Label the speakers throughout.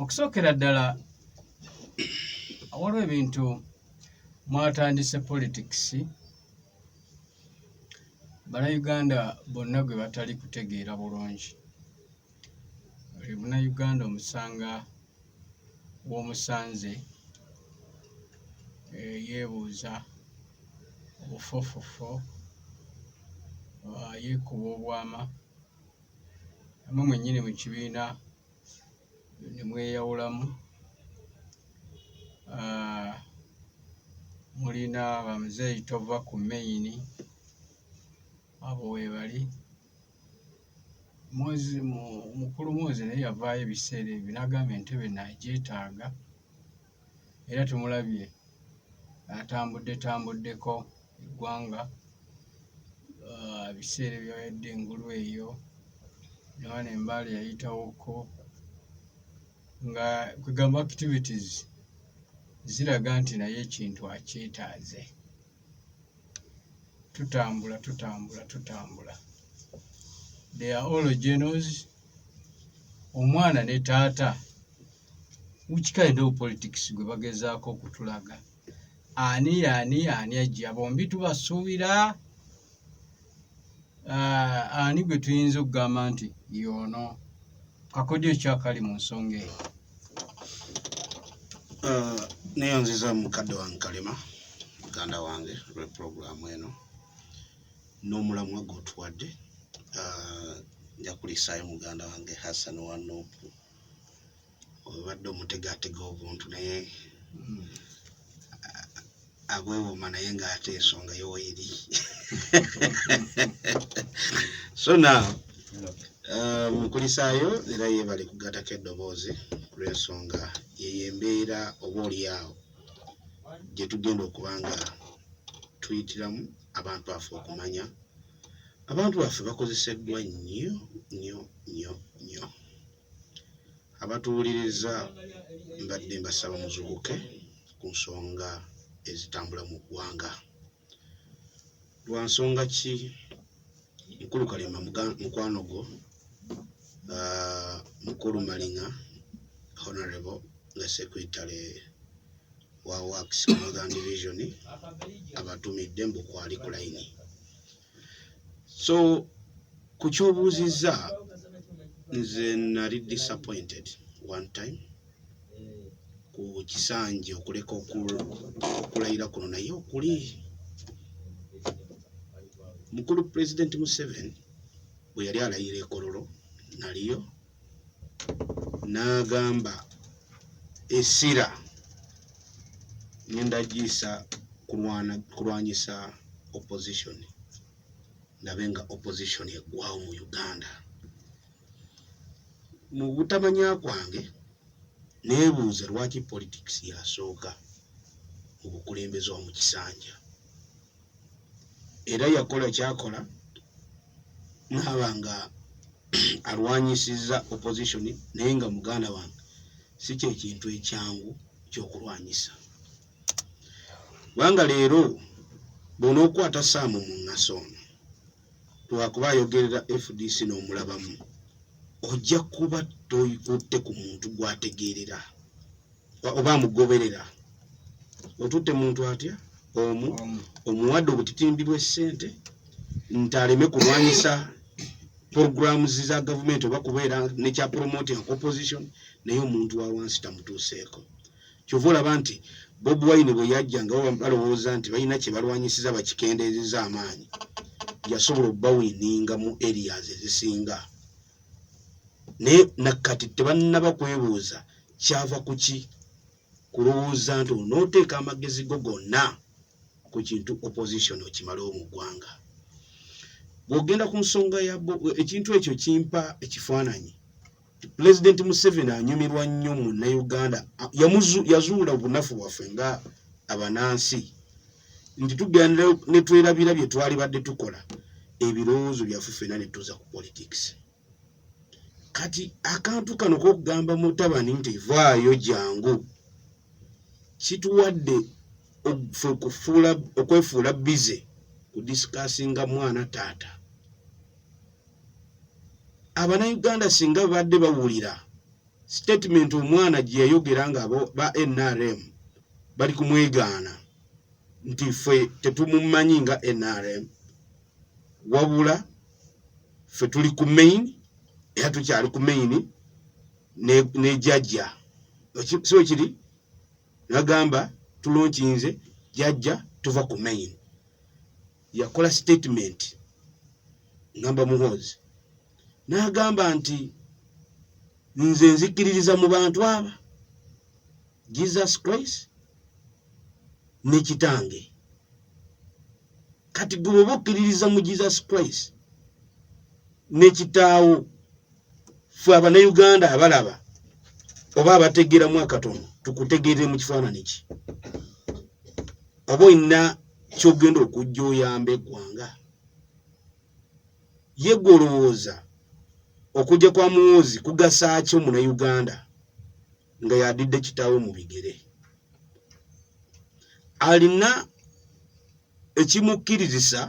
Speaker 1: okusookera ddala waliwo ebintu mwatandise politics bannayuganda bonna gwe batali kutegeera bulungi buli munnayuganda omusanga w'omusanze eh, yeebuuza obufofofo ah, yeekuba obwama namwe mwennyini mu kibiina ne mweyawulamu ah, mulina bamuzeeyi tova ku meyini abo webali mozi mukulu mozi naye yavaayo ebiseera ebyo nagamba entebe nagyetaaga era tumulabye atambudde tambuddeko eggwanga ah, ebiseera ebyayadde engulu eyo nawana embaale yayitawoko nga kwegamba activities ziraga nti naye ekintu akyetaaze tutambula tutambula tutambula they are all genos omwana ne taata which kind of politics gwe bagezaako okutulaga ani ani ani ajja bombi tubasuubira uh, ani gwe tuyinza okugamba nti yoono kakodyo ekyakali mu nsonga eyo uh,
Speaker 2: neyonziza mukadde wange kalema muganda wange lweprogramu eno n'omulamwa gwotuwadde uh, njakulisaayo muganda wange hassan wanupu obadde omutegatega obuntu naye hmm. agwewoma naye ngaate ensonga yowairi so now uh, mukulisaayo era yebale kugatako eddoboozi kulwensonga yeyo embeera oba olyawo gyetugenda okuba nga tuyitiramu abantu baffe okumanya abantu baffe bakozeseddwa nnyo nnyo nnyo nnyo Abatuwuliriza mbadde mbasaba muzuukuke ku nsonga ezitambula mu ggwanga. Lwa nsonga ki Mukulu Kalema mukwano gwo Mukulu Maliŋa Honorable nga Secretary wa Works Northern Division abatumidde mbu kwali ku layini. so ku kyobuuzizza nze nali disappointed one time ku kisanje okuleka okulayira kuno naye okuli mukulu pulezidenti museveni bwe yali alayira ekololo naliyo n'agamba essira ngenda giyisa kulwanyisa opposition ndabe nga opposition eggwawo mu uganda mu butamanya kwange neebuuza lwaki politics yasooka mu bukulembeze wa mu kisanja era yakola kyakola naaba nga alwanyisizza opposition naye nga muganda wange si kyekintu ekyangu kyokulwanyisa kubanga leero bona okukwata saamu mu ŋasa ono lwakuba ayogerera fdc n'omulabamu ojja kuba toyikutte ku muntu gwategeerera oba amugoberera otutte muntu atya omu omuwadde obutitimbi bw'essente nti aleme kulwanyisa programu za gavumenti oba kubeera nekya promoting opposition naye omuntu wa wansi tamutuuseeko kyova olaba nti bob wine bwe yajja nga baba balowooza nti balina kye balwanyisiza bakikendeezeza amaanyi yasobola okubawininga mu areas ezisinga naye nakati tebannaba kwebuuza kyava kuki kulowooza nti onooteeka amagezi go gonna ku kintu opposition okimalewo mu ggwanga bw'ogenda ku nsonga ya ekintu ekyo kimpa ekifaananyi pulezidenti museveni anyumirwa nnyo munnauganda yazuula obunafu bwaffe nga abanansi nti tugenda netwerabira bye twali badde tukola ebirowoozo byaffe fena netuza ku politics kati akantu kano kokugamba mutabani nti vaayo jangu kituwadde okwefuula bize kudisikasinga mwana taata abanauganda singa babadde bawulira statement omwana gye yayogera nga ba nrm bali kumwegaana nti ffe tetumumanyi nga nrm wabula ffe tuli ku main era tukyali ku main nejajja so kiri nagamba tulonkinze jajja tuva ku main yakola statement ngamba muhoozi n'agamba nti nze nzikiririza mu bantu aba jesus christ ne kitange kati gwe oba okkiririza mu jesus christ ne kitaawo ffe abanauganda abalaba oba abategeeramu akatono tukutegeerere mu kifaanani ki oba olina kyogenda okujja oyamba eggwanga ye gwe olowooza okujja kwa muwoozi kugasa ki omunauganda nga yadidde kitaawe mu bigere alina ekimukkirizisa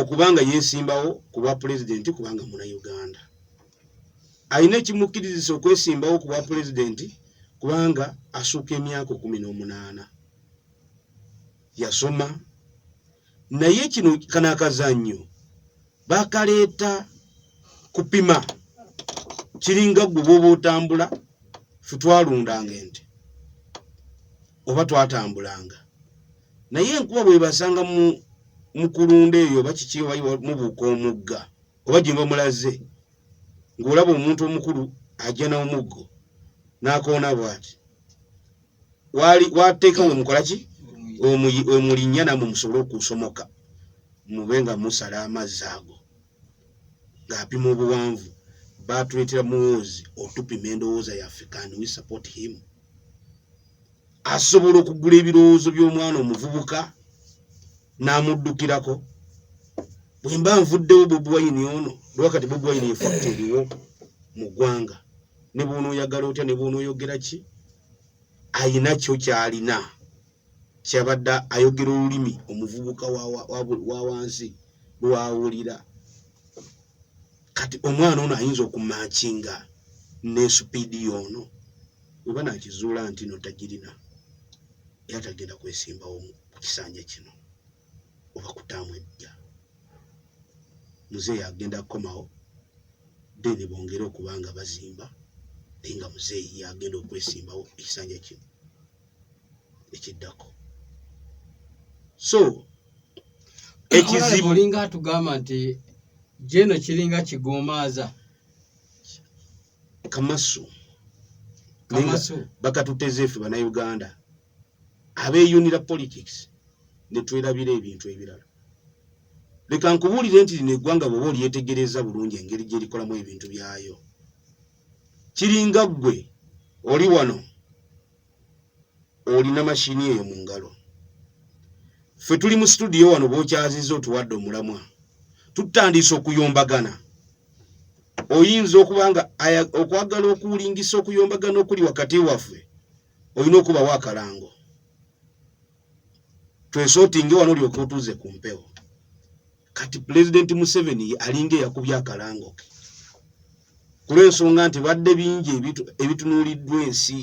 Speaker 2: okuba nga yeesimbawo ku bwa pulezidenti kubanga muna uganda alina ekimukkirizisa okwesimbawo ku bwa pulezidenti kubanga asuuka emyaka kumi n'omunaana yasoma naye kino kano akazannyo bakaleeta kupima kiringa gwe bwoba otambula fe twalundanga ente oba twatambulanga naye enkuba bwebasanga mukulunda eyo oba kiki mubuuka omugga oba gyemba mulaze ng'olaba omuntu omukulu ajja n'omuggo n'akoona bwati wali wateka we mukolaki omuyi omulinya na mumusolo kusomoka mubenga musala amazago ngapi mu buwanvu batulitira muwozi otupi mendo woza ya african we support him asobola okugula ebirowozo by'omwana omuvubuka namuddukirako bwemba nvuddewo bobi wayini ono lwakati bobi wayini efakta eriwo mu ggwanga ne bw'onooyagala otya ne bw'onooyogera ki ayina kyo ky'alina kyabadde ayogera olulimi omuvubuka wa wansi lwawulira kati omwana ono ayinza okumakinga ne supiidi yoono weba nakizuula nti no tagirina era tagenda kwesimbawo ku kisanja kino oba kutaamu ejja muzeeyi agenda kukomawo then bongere okuba nga bazimba naye nga muzeeyi yagenda okwesimbawo ekisanja kino ekiddako so ekizibu olinga atugamba nti
Speaker 1: jeno kiringa kigomaaza
Speaker 2: kamasu kamasu bakatuteze ffe banauganda abeyunira politics netwerabira ebintu ebirala leka nkubuulire nti lino eggwanga bwoba olyetegereza bulungi engeri gyerikolamu ebintu byayo kiringa ggwe oli wano olina mashini eyo mu ngalo ffe tuli mu situdiyo wano bokyaziza otuwadde omulamwa tutandiise okuyombagana oyinza okuba nga okwagala okuwulingisa okuyombagana okuli wakati waffe olina okubawo akalango twesotinge wano olyoka otuuze ku mpewo kati pulezidenti museveni alinga eyakubya akalango ke kulwensonga nti badde bingi ebitunuuliddwa ensi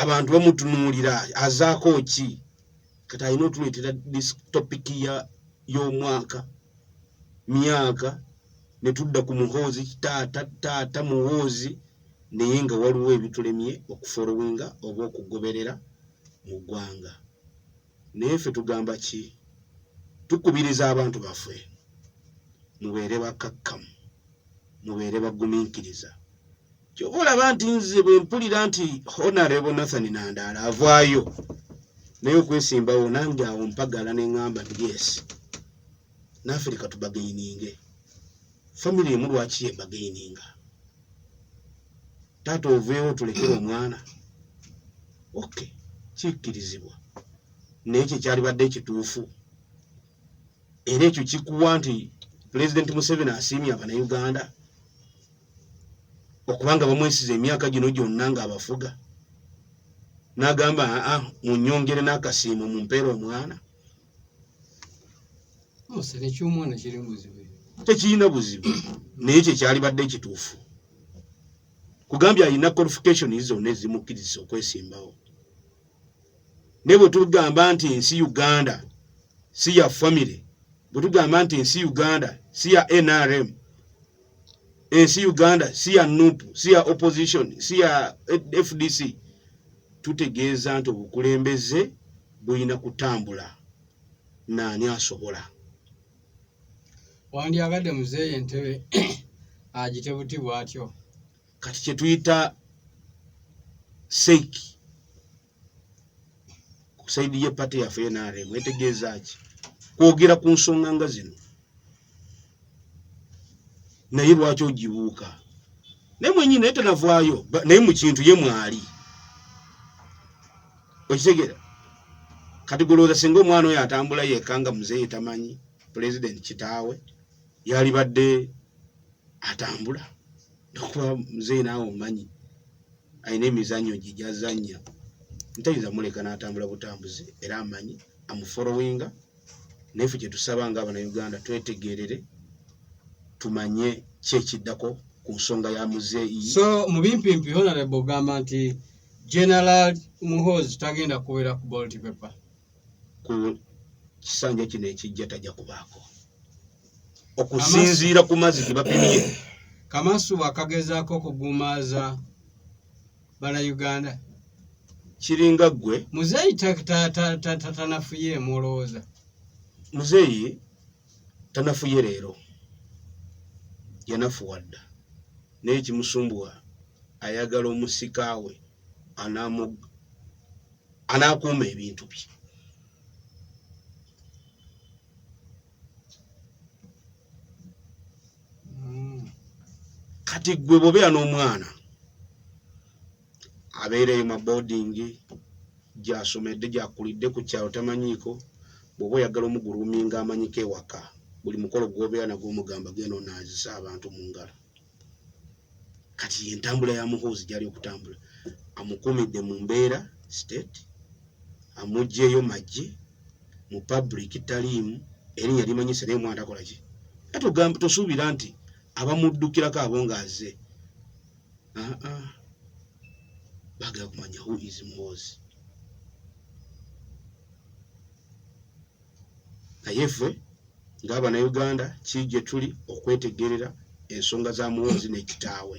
Speaker 2: abantu bamutunuulira azaako ki kati alina otuleetera topiki y'omwaka myaka ne tudda ku muhoozi taata taata muhoozi naye nga waliwo ebitulemye okufolowinga oba okugoberera mu gwanga naye ffe tugamba ki tukubiriza abantu baffe mubeere bakakkamu mubeere baguminkiriza kyoba olaba nti nze bwempulira nti honarebo nathan nandaala avaayo naye okwesimbawo nange awo mpagala nengamba nti yes naafirika tubagaininge family emu lwaki yebagaininga taata oveewo tulekere omwana ok kikkirizibwa naye kye kyalibadde ekituufu era ekyo kikuwa nti pulezidenti museveni asiimye abanauganda okubanga bamwesiza emyaka gino gyonna ngaabafuga nagamba aa ah, munyongere n'akasiimo mumpeera omwana tekirina buzibu naye ekyo kyalibadde ekituufu kugambye alina qualification zonna ezimukkiriza okwesimbawo naye bwe tugamba nti nsi uganda si ya famiry bwe tugamba nti nsi uganda si ya nrm ensi uganda si ya nup si ya opposition si ya fdc tutegeeza nti obukulembeze bulina kutambula naani asobola
Speaker 1: wandyagadde muzeeyi entebe agite buti bwatyo kati
Speaker 2: kyetuyita seiki ku saidi ye pate yaffe nrm etegeeza ki kwogera ku nsonga nga zino naye lwaki ogibuuka naye mwenyini naye tenavaayo naye mu kintu ye mwali okitegera kati gulowooza singa omwana oyo atambula yekka nga muzeeyi tamanyi pulezidenti kitaawe yalibadde atambula nokuba muzeeyi naawe omanyi alina emizannyo gye gyazannya ntayinza muleka n'atambula butambuzi era amanyi amufolowinga naye fe kyetusaba nga abanauganda twetegerere tumanye ki ekiddako ku nsonga ya muzeeyi so mu bimpimpi
Speaker 1: honarebo ogamba nti general muhozi tagenda kubeera ku bolti pepa ku
Speaker 2: kisanja kino ekijja tajja kubaako okusinziira ku mazzi ge bapimye kamasu
Speaker 1: wakagezaako okugumaaza banauganda
Speaker 2: kiringa ggwe muzeeyi
Speaker 1: tanafuye emulowooza muzeeyi
Speaker 2: tanafuye leero yanafuwa dda naye kimusumbuwa ayagala omusika we anamug anakuuma ebintu bye kati gwe bobeera n'omwana abeereyo ma boarding gyasomedde gyakulidde ku kyalo tamanyiiko bwoba oyagala omuguluminga amanyiko ewaka buli mukolo gwobeera nagwo omugamba genda onaazisa abantu mu ngalo kati yentambula ya muhoozi gyali okutambula amukumidde mu mbeera state amugyeyo majje mu public taliimu erinya limanyise naye omwana takola ki atugamba tosuubira nti abamuddukirako abo ngaaze ah, ah. bagala kumanya who is muhoozi naye ffe ng'Abanauganda ki gye tuli okwetegerera ensonga za Muhoozi ne kitaawe?